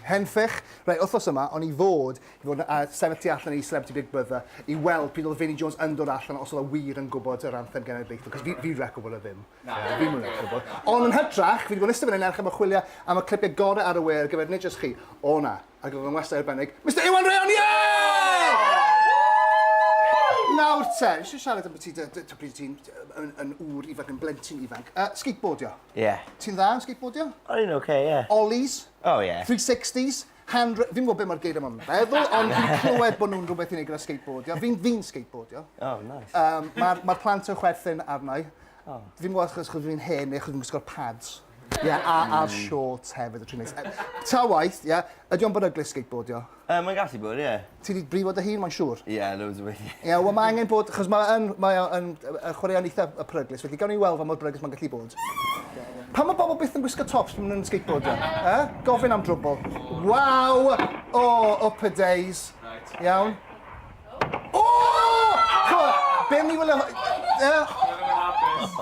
Henffych, Reit, wythnos yma, o'n i fod i fod yn uh, sefyll tu allan i Celebrity Big Brother i weld pryd oedd Vinnie Jones yn dod allan os oedd o wir yn gwybod yr anthem genedlaethol, cos fi, fi wedi gwybod o ddim. Na, yeah, fi'n mwyn gwybod. Ond yn hytrach, fi wedi bod yn ystod fan hyn erch am y chwilio am y clipiau gorau ar y we ar gyfer nid jyst chi. O na, ac oedd yn westau arbennig, Mr Iwan Rheon, yeah! Nawr te, nes i siarad am beth ti'n, ti'n ŵr ifanc yn blentyn ifanc, uh, skateboardio. Ie. Ti'n dda yn skateboardio? O, fi'n oce, ie. Ollies? O, ie. Three sixties? Hand... Fi'm yn gwybod be' ma'r geiriau ma'n feddwl, ond fi'n clywed bod nhw'n rhywbeth i wneud gyda skateboardio. Fi'n fi'n skateboardio. O, neis. Yym, ma'r ma'r plant yn chwerthin arna i. O. Fi'm yn gwybod achos achos fi'n hen neu achos fi'n gwisgo'r pads. Ie, a a'r shorts hefyd, y tri mis. Ta waeth, ie, ydy o'n beryglus skateboardio? Yy mae'n gallu bod, ie. Ti 'di brifo dy hun, mae'n siŵr. Ie, loads o weithie. Ie, wel mae angen bod, achos mae yn, mae o yn yy chwaraeon eitha y peryglus, felly gawn ni weld fa mor beryglus mae'n gallu bod. Pam mae bobl byth yn gwisgo tops pan maen nhw'n skateboardio? E? Gofyn am drwbl. Waw! O, oh, up a days. Iawn. O! Be mi wylio...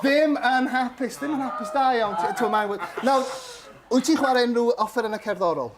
Ddim yn hapus, ddim yn hapus, da iawn. Ti'n mae'n... Nawr, wyt ti'n chwarae unrhyw offer yn y cerddorol?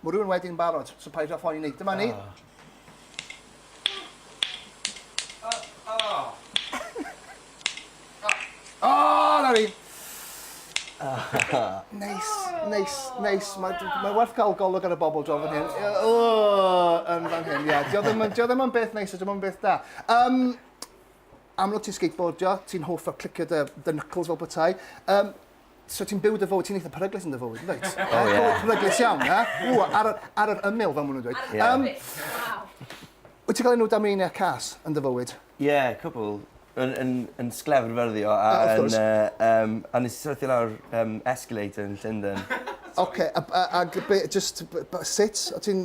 Mae rhywun wedi'n barod, so paid â phoeni. Dyma ni. O! O! O, na ni! Neis, neis, neis. Mae ma werth cael golwg ar y bobl dro fan hyn. O, yn fan hyn, ie. Dio ddim, dio ddim yn beth neis, dio ddim yn beth da. Um, amlwg ti'n skateboardio, ti'n hoff o clicio dy, dy knuckles fel bethau. Um, So ti'n byw dy fywyd, ti'n eitha peryglus yn dy fywyd, yn dweud? O, ie. Peryglus iawn, e? O, ar, ar yr ymyl, fel maen nhw'n dweud. Ie. Um, Wyt ti'n cael enw dameinia cas yn dy fywyd? Ie, yeah, cwbl. Yn, yn, yn sglefr fyrdio a, a yn... Uh, um, a nes i syrthio lawr um, escalator yn Llundain. Oce, okay, a, a, a, a just, sut? O ti'n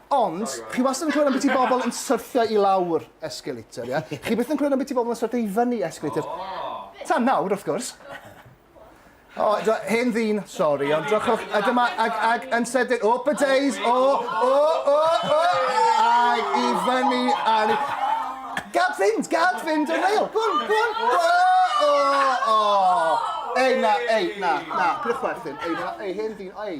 Ond, chi wastad yn clywed am biti bobl yn syrthio i lawr escalator, ie? Chi byth yn clywed am biti bobl yn syrthio i fyny escalator. Ta nawr, wrth gwrs. O, do, hen ddyn, sori, ond drychwch, a dyma, ag, ag yn sydyn, up a days, o, o, o, o, ag i fyny, a ni... Gad fynd, gad fynd, yn eil, gwn, gwn, o, o, o. Ei, na, ei, na, na, pwch werthyn, ei, na, ei, hen ddyn, ei.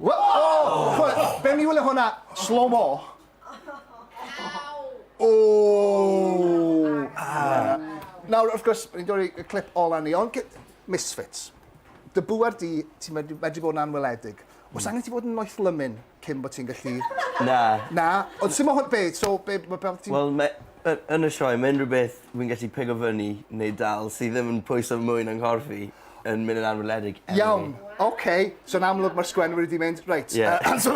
Oh! Be mi wylio hwnna? Slow mo. Oh! Ah. Nawr, wrth gwrs, ni'n dod i'r clip ola ni, ond misfits. Dy bŵer di, ti'n medru, medru bod yn anweledig. Os hmm. angen ti fod yn noeth lymyn cyn bod ti'n gallu... Na. Na, ond sy'n mo hwn, be, so, be, be, be ti'n... Wel, Y- yn y sioe ma' unryw beth fi'n gallu pigo fyny neu dal sy ddim yn pwyso mwy na nghorff i yn myn' yn anweledig eleni. Iawn oce so yn amlwg ma'r sgwennwr 'di mynd reit... Ie. ...yy so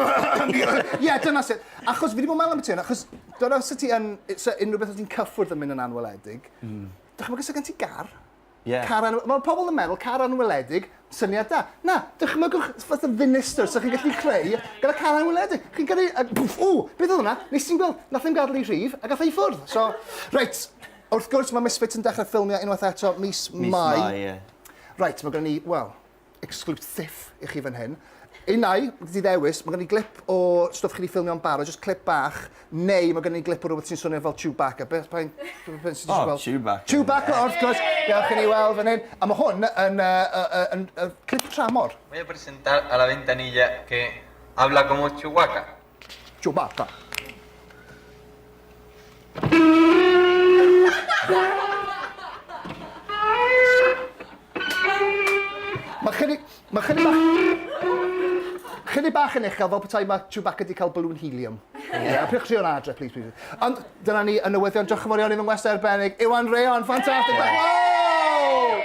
ie dyna sut achos fi 'di bo' meddwl ambyty 'wn achos dyna sut ti yn yy so unrywbeth os ti'n cyffwrdd yn myn' yn anweledig... Hmm. ...dychmyga sa gen ti gar Ie. Car anw- Mae pobl yn meddwl car anweledig, syniad da. Na, dychmygwch fatha ddinistr 'sa chi'n gallu creu gyda car anweledig. Chi'n gyrru a pwff, ww, beth oedd hwnna? Nes ti'm gweld? Nath e'm gadel i rhif a gath e i ffwrdd. So, reit, wrth gwrs mae Misfits yn dechrau ffilmio unwaith eto mis Mai. Mis Mai, ie. Reit, mae gynnon ni, wel, exclusive i chi fan hyn. Unai, di ddewis, mae gen i glip o stwff chi di ffilmio'n barod, just clip bach, neu mae gen i glip o rhywbeth sy'n swnio fel Chewbacca. Beth pa'n... Beth sy'n oh, gweld? Chewbacca. Chewbacca, wrth gwrs. Gawch i ni weld fan hyn. A mae hwn yn, yn, clip tramor. Mae person tal a la ventanilla que habla como Chewbacca. Chewbacca. Mae chyni... Mae chyni bach... Chyni bach yn uchel, fel petai mae Chewbacca wedi cael balloon helium. Yeah. Pwch chi o'n adre, please, please. Ond dyna ni yn newyddion. Diolch yn fawr iawn i fy ngwestiwn arbennig. Iwan Reon, ffantastig! Yeah. Wow!